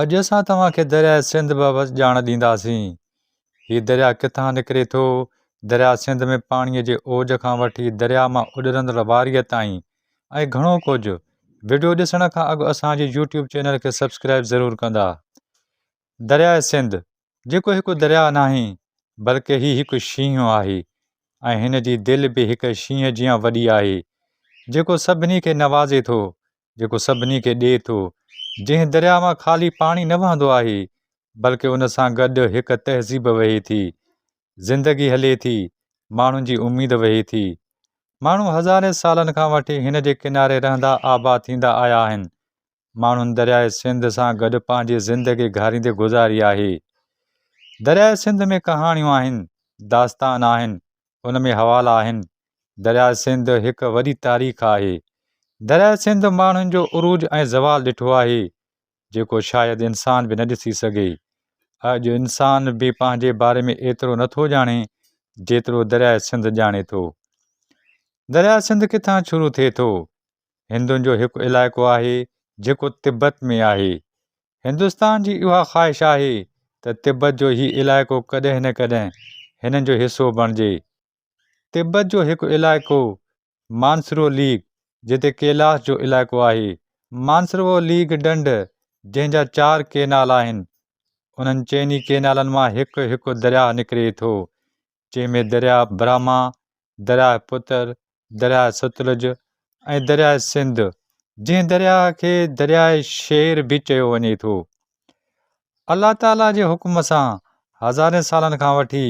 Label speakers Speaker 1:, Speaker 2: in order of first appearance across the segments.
Speaker 1: اڄ اسان توهان کي درياء سنڌ بابت ڄاڻ ڏينداسين. هي درياء ڪٿان نڪري ٿو، درياء سنڌ ۾ پاڻي جي اوج کان وٺي درياء مان اڏرندڙ واريء تائين ۽ گهڻو ڪجهه. وڊيو ڏسڻ کان اڳ اسان جي يوٽيوب چينل کي سبسڪرائيب ضرور ڪندا. درياء سنڌ جيڪو هڪ درياء ناهي بلڪه هي هڪ شينهن آهي ۽ هن جي دل به هڪ شينهن جيان وڏي آهي جيڪو سڀني کي نوازي ٿو جيڪو سڀني کي ڏئي ٿو. جنهن درياء مان خالي پاڻي نه وهندو آهي، بلڪه ان سان گڏ هڪ تهذيب وهي ٿي، زندگي هلي ٿي، ماڻهن جي اميد وهي ٿي. ماڻهو هزارين سالن کان وٺي هن جي ڪناري رهندا آباد ٿيندا آيا آهن. ماڻهن درياء سنڌ سان گڏ پنهنجي زندگي گهاريندي گذاري آهي. درياء سنڌ ۾ ڪهاڻيون آهن، داستان آهن، ان ۾ حوالا آهن. درياء سنڌ هڪ وڏي تاريخ آهي. درياء سنڌ ماڻهن جو عروج ۽ زوال ڏٺو آهي، جيڪو شايد انسان به نه ڏسي سگهي. اڄ انسان به پنهنجي باري ۾ ايترو نه ٿو ڄاڻي، جيترو درياء سنڌ ڄاڻي ٿو. درياء سنڌ ڪٿان شروع ٿئي ٿو؟ هندن جو هڪ علائقو آهي، جيڪو تبت ۾ آهي. هندستان جي اها خواهش آهي ته تبت جو هي علائقو ڪڏهن نه ڪڏهن هنن جو حصو بڻجي. تبت جو هڪ علائقو مانسرو ليگ جتي ڪيلاس جو علائقو آهي. مانسروو ليگ ڏنڊ جنهن جا چار ڪينال آهن، انهن چئني ڪينالن مان هڪ هڪ درياهه نڪري ٿو. جنهن ۾ درياهه براهما، درياهه پتر، درياهه ستلج ۽ درياهه سنڌ جنهن درياهه کي درياهه شير به چيو وڃي ٿو. الله تعاليٰ جي حڪم سان هزارين سالن کان وٺي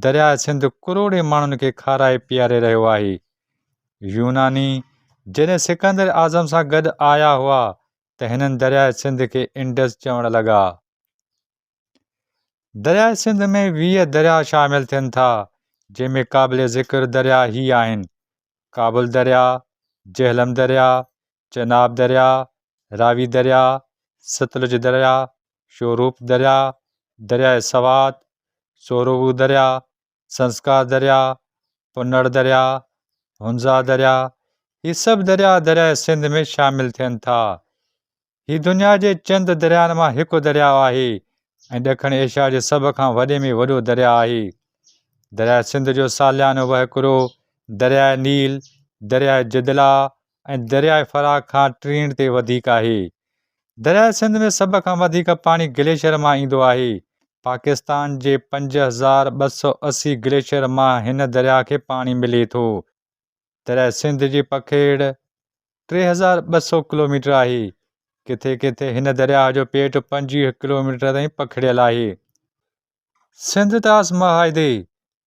Speaker 1: درياهه سنڌ ڪروڙين ماڻهن کي کارائي پياري رهيو آهي. يوناني جڏهن سڪندر اعظم سان گڏ آيا هئا ته هنن درياهه سنڌ کي انڊس چوڻ لڳا. درياء سنڌ ۾ ويهه درياء شامل ٿين ٿا، جنهن ۾ قابل ذڪر درياء هي آهن، ڪابل درياء، جهلم درياء، چناب درياء، راوي درياء، ستلج درياء، شوروپ درياء، درياء سوات، سوروو درياء، سنسڪار درياء، پنڙ درياء، هنزا درياء، هي سڀ درياء درياء سنڌ ۾ شامل ٿين ٿا. هي دنيا جي چند درياهن مان هڪ درياهه آهي ۽ ڏکڻ ايشيا جي سڀ کان وڏي ۾ وڏو درياهه آهي. درياهه سنڌ جو ساليانو وهڪرو درياهه نيل، درياهه جدلا ۽ درياهه فراه کان ٽرينڊ تي وڌيڪ آهي. درياهه سنڌ ۾ سڀ کان وڌيڪ پاڻي گليشيئر مان ايندو آهي. پاڪستان جي پنج هزار ٻه سؤ اسي گليشيئر مان هن درياهه کي پاڻي ملي ٿو. تڏهن سنڌ جي پکيڙ ٽي هزار ٻه سؤ ڪلوميٽر آهي. ڪٿي ڪٿي هن درياهه جو پيٽ پنجويهه ڪلوميٽر تائين پکڙيل آهي. سنڌ طاس معاهدي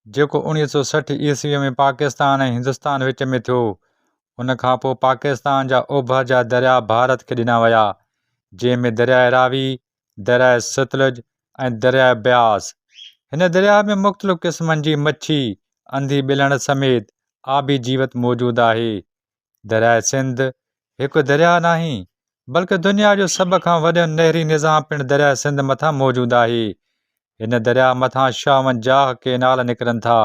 Speaker 1: جيڪو اوڻيهه سؤ سٺ عيسويء ۾ پاڪستان ۽ هندستان وچ ۾ ٿيو، ان کان پوء پاڪستان جا اوڀر جا درياهه ڀارت کي ڏنا ويا، جنهن ۾ درياهه راوي درياء ستلج ۽ درياء بياس. هن درياء ۾ مختلف قسمن جي مڇي، انڌي ٻلهڻ سميت آبي جيوت موجود آهي. درياء سنڌ هڪ درياء ناهي، بلڪ دنيا جو سڀ کان وڏو نهري نظام پڻ درياء سنڌ مٿان موجود آهي. هن درياء مٿان شاونجاهه ڪينال نڪرن ٿا.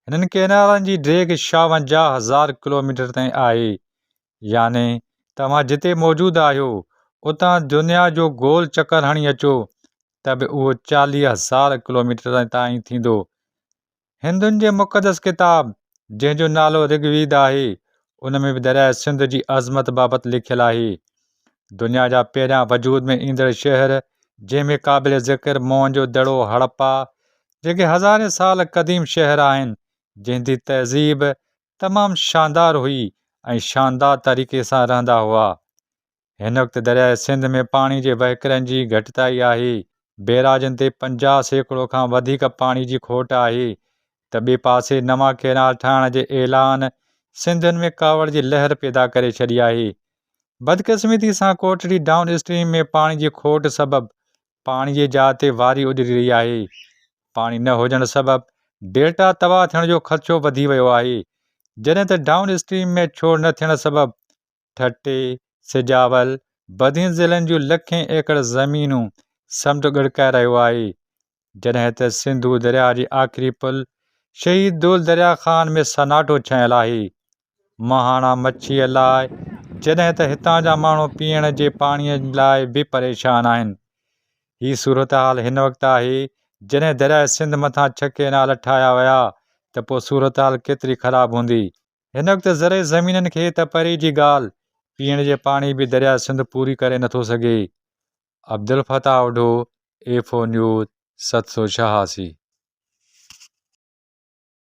Speaker 1: هنن ڪينالن جي ڊيگهه شاونجاهه هزار ڪلوميٽر تائين آهي. يعني توهان جتي موجود آهيو اتان دنيا جو گول چڪر هڻي اچو ته به اهو چاليهه هزار ڪلوميٽر تائين ٿيندو. هندن جي مقدس ڪتاب جنهن جو نالو رگ ويد آهي ان ۾ به درياء سنڌ جي عظمت بابت لکيل آهي. دنيا جا پهريان وجود ۾ ايندڙ شهر جنهن ۾ قابل ذڪر موهن جو دڙو هڙپا جيڪي هزارين سال قديم شهر آهن جنهن جي تهذيب تمام شاندار هئي ۽ شاندار طريقي سان رهندا هئا. هن وقت درياهه سنڌ ۾ پاڻي جي وهڪرن جي گهٽتائي آهي، بيراجن تي پنجاهه سيڪڙو کان وڌيڪ پاڻي جي کوٽ آهي ته ٻئي پاسي نوان ڪينال ٺاهڻ جي اعلان سنڌين ۾ ڪاوڙ جي لهر پيدا ڪري ڇڏي آهي. بدقسمتي سان ڪوٽڙي ڊائون اسٽريم ۾ پاڻي جي کوٽ سبب پاڻي جي جاء تي واري اڏري رهي آهي، پاڻي نه هجڻ سبب ڊيلٽا تباهه ٿيڻ جو خدشو وڌي ويو آهي، جڏهن ته ڊائون اسٽريم ۾ ڇوڙ نه ٿيڻ سبب ٺٽي، سجاول، بدين ضلعن جون لکين ايڪڙ زمينون سمنڊ ڳڙڪائي رهيو آهي، جڏهن ته سنڌو درياهه جي آخري پل شهيد دول دريا خان ۾ سناٽو ڇانيل آهي، مهاڻا مڇيء لاء، جڏهن ته هتان جا ماڻهو پيئڻ جي پاڻيء لاء به پريشان آهن. هي صورتحال هن وقت آهي، جڏهن درياء سنڌ مٿان ڇهه ڪئنال ٺاهيا ويا ته پوء صورتحال ڪيتري خراب هوندي. هن وقت زرعي زمينن کي ته پري جي ڳالهه، پيئڻ جي پاڻي به درياء سنڌ پوري ڪري نه ٿو سگهي. Abdul Fatah Odho, F O news, ست سو ڇهاسي.